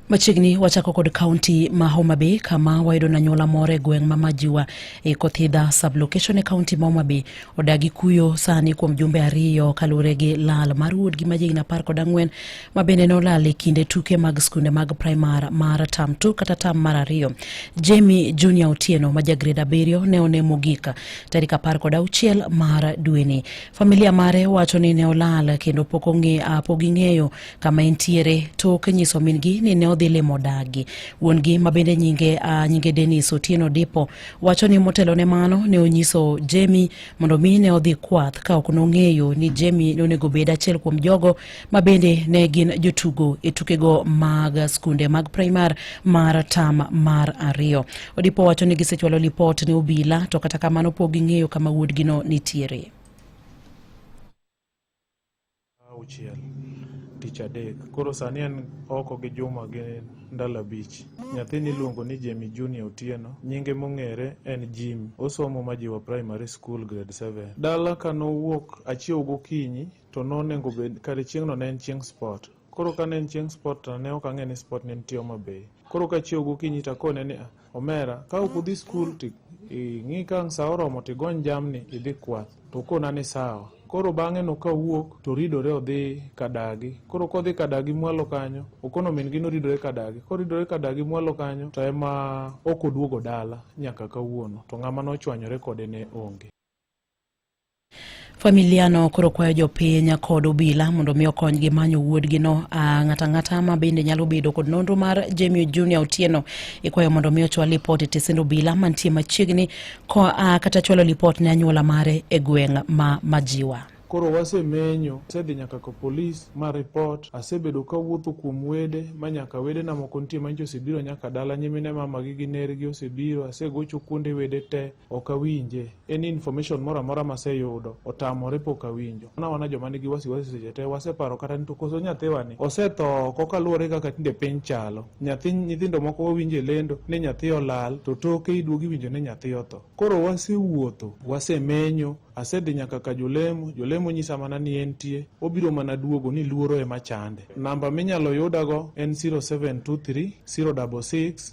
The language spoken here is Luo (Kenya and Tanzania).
Machiegni wachako kod kaunti ma Homa Bay kama wayudo na nyuola moro e gweng' ma Majiwa e Kothidha sublocation e kaunti ma Homa Bay odagi kuyo sani kuom jumbe ariyo kaluwore gi lal mar wuodgi ma jigni apar kod ang'wen ma bende nolal e kinde tuke mag skunde mag primar mar tam tu kata tam mar ariyo. Jamie Junior Otieno ma jagred abiriyo ne one mogik tarik apar kod auchiel mar dweni. Familia mare wacho ni ne olal kendo pok ong'e pok ging'eyo kama entiere tok nyiso min-gi ni ne odhi limo dagi. Wuon-gi ma bende nyinge, uh, nyinge Dennis Otieno Dipo wacho ni motelo ne mano ne onyiso Jemi mondo mi ne odhi kwath ka ok nong'eyo ni Jemi ne onego bed achiel kuom jogo ma bende ne gin jotugo e tukego mag skunde mag primar mar tam mar ariyo. Odipo wacho ni gisechwalo lipot ne obila to kata kamano pok ging'eyo kama wuodgino nitiere. auchiel tich adek koro sani en oko gi juma gi ndalo abich nyathini iluongo ni jemi junior otieno nyinge mong'ere en jim osomo majiwa primary school grade 7 dala ka nowuok achiew gokinyi to nonengo bed kare chieng'no ne en chieng sport Koro ka ne en chieng' sport to ne ok ang'e ni sport ne nitie Homa Bay. Koro ka chiew gokinyi to akone ni "Ah, omera ka ok udhi skul to ing'i ka ang' sa oromo to igony jamni idhi kwath. To okona ni sawa. Koro bang'e no ka owuok to oridore odhi kadagi. Koro kodhi kadagi mwalo kanyo, okono min gi noridore kadagi. Koridore kadagi mwalo kanyo to ema ok oduogo dala nyaka kawuono. To ng'ama nochwanyore kode ne onge. Familiano koro kwayo jopiny kod obila mondo mi okonygi manyo wuodgino. Ah, ng'ato ang'ata ma bende nyalo bedo kod nonro mar Jemio Junior Otieno ikwayo mondo mi ochwal lipot e tesend obila mantie machiegni ah, kata chwalo lipot ne anyuola mare e gweng' ma Majiwa. Koro wasemenyo, asedhi nyaka ka polis ma report, asebedo kawuotho kuom wede ma nyaka wedena moko nitie manyicha osebiro nyaka dala, nyimine mamagi gi nergi osebiro, asegocho kuonde wede te, ok awinje any information moro amora maseyudo otamore pok awinjo wana wana joma nigi wasiwasi seche te waseparo kata ni to koso nyathiwa ni osetho koka luwore kaka tinde piny chalo nyathi nyithindo moko wawinjo e lendo ni nyathi olal to toke iduogi winjo ni nyathi otho koro wasewuotho wasemenyo asedhi nyaka ka jolemo jolemo nyisa mana ni entie obiro mana duogo ni luoro ema chande namba minyalo yudago en 0723 066